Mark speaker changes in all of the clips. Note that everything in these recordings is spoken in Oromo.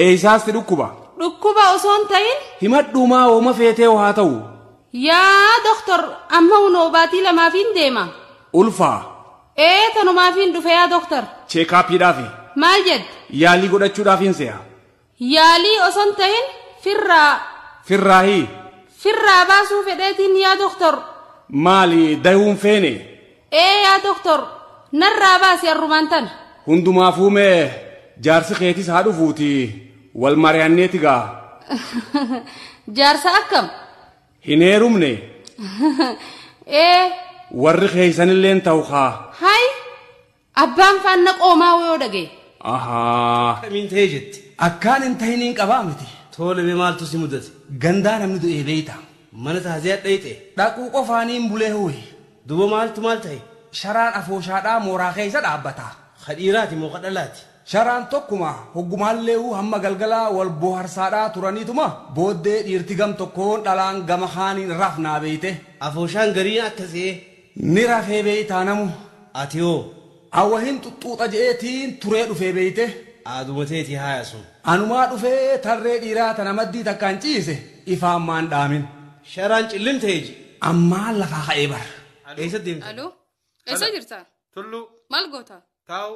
Speaker 1: Eeysaasti dhukkuba. Dhukkuba osoo hin
Speaker 2: ta'in Himadhuumaa hooma
Speaker 1: feetee haa ta'u. yaa
Speaker 2: doktor amma hunoo baatii lamaafiin deema. Ulfaa.
Speaker 1: Ee
Speaker 2: tanumaafiin dhufe yaa doktor Cheekaappiidhaafi.
Speaker 1: maal jette?
Speaker 2: Yaalii godhachuudhaafiin
Speaker 1: se'a. Yaalii
Speaker 2: oson tahin firraa.
Speaker 1: Firraahi. Firraa
Speaker 2: baasuu fedheetiin yaa doktor. Maali
Speaker 1: dahuun feene? Ee yaa
Speaker 2: doktor narraa baasi arrumaan tana. Hundumaafuu mee
Speaker 1: jaarsi keetis haa dhufuuti wal mari'anneeti gaa.
Speaker 2: Jaarsa akkam? Hin
Speaker 1: heerumne. Ee. Warri keeysanilleen tahu kaa. Hay
Speaker 2: Abbaan faanna qoomaa wayoo dhagaye. Ahaa. Akkamiin
Speaker 1: ta'ee jette.
Speaker 3: Akkaan hin tahiniin
Speaker 1: qabaa miti. Toole mee maaltu si
Speaker 3: mudate. Gandaa namni du'ee
Speaker 1: beeyta. Mana taaziyaa
Speaker 3: dhayxe. Dhaquu qofaanii
Speaker 1: hin bulee huwi. Duba maaltu maal
Speaker 3: ta'e. Sharaan afooshaadhaa
Speaker 1: mooraa keeysa dhaabbata. Ka dhiiraati moo ka
Speaker 3: dhalaati. Sharaan tokkuma.
Speaker 1: Hoggumaalleehu hamma galgalaa wal booharsaadhaa turaniituma booddee dhiirti gam tokkoon dhalaan gama kaaniin rafnaa beeyte. Afooshaan gariin
Speaker 3: akka se'ee. Ni rafee
Speaker 1: beeytaa namu ati hoo.
Speaker 3: An wahin
Speaker 1: xuxxuuxa je'ee tiin turee dhufee beeyte aaduma teetii
Speaker 3: haayasun. Anumaa dhufee
Speaker 1: tarree dhiiraa tana maddii takkaan ciise ifaan maan dhaamin. Sharaan cillim
Speaker 3: ta'e ji. Ammaan lafaa ka'ee
Speaker 1: bar. Eessa deemtan? Aloo.
Speaker 3: Eessa
Speaker 2: jirta? Tulluu. Maal
Speaker 3: goota?
Speaker 2: Taa'u.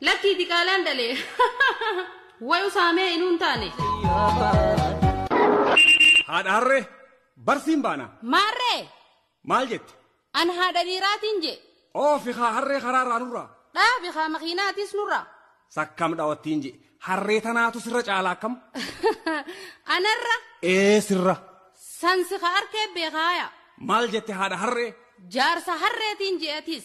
Speaker 1: Lakkii diqaalaan
Speaker 2: dhalee. Way usaamee inuu hin taane.
Speaker 1: Haadha harree barsiin baana. Maarree
Speaker 2: Maal jette?
Speaker 1: an haadha
Speaker 2: dhiiraatiin je. Oofi haa harree
Speaker 1: karaa irraa nurraa. Dhaabi haa
Speaker 2: makiinaatis nurra. Sakkam dhawattiin
Speaker 1: je. Harree tanaatu sirra caala akkam?
Speaker 2: Anarra Ee sirra.
Speaker 1: sansi ka arkee
Speaker 2: beekaaya.
Speaker 1: Maal
Speaker 2: jette haadha harree? Jaarsa harreetiin je'atis.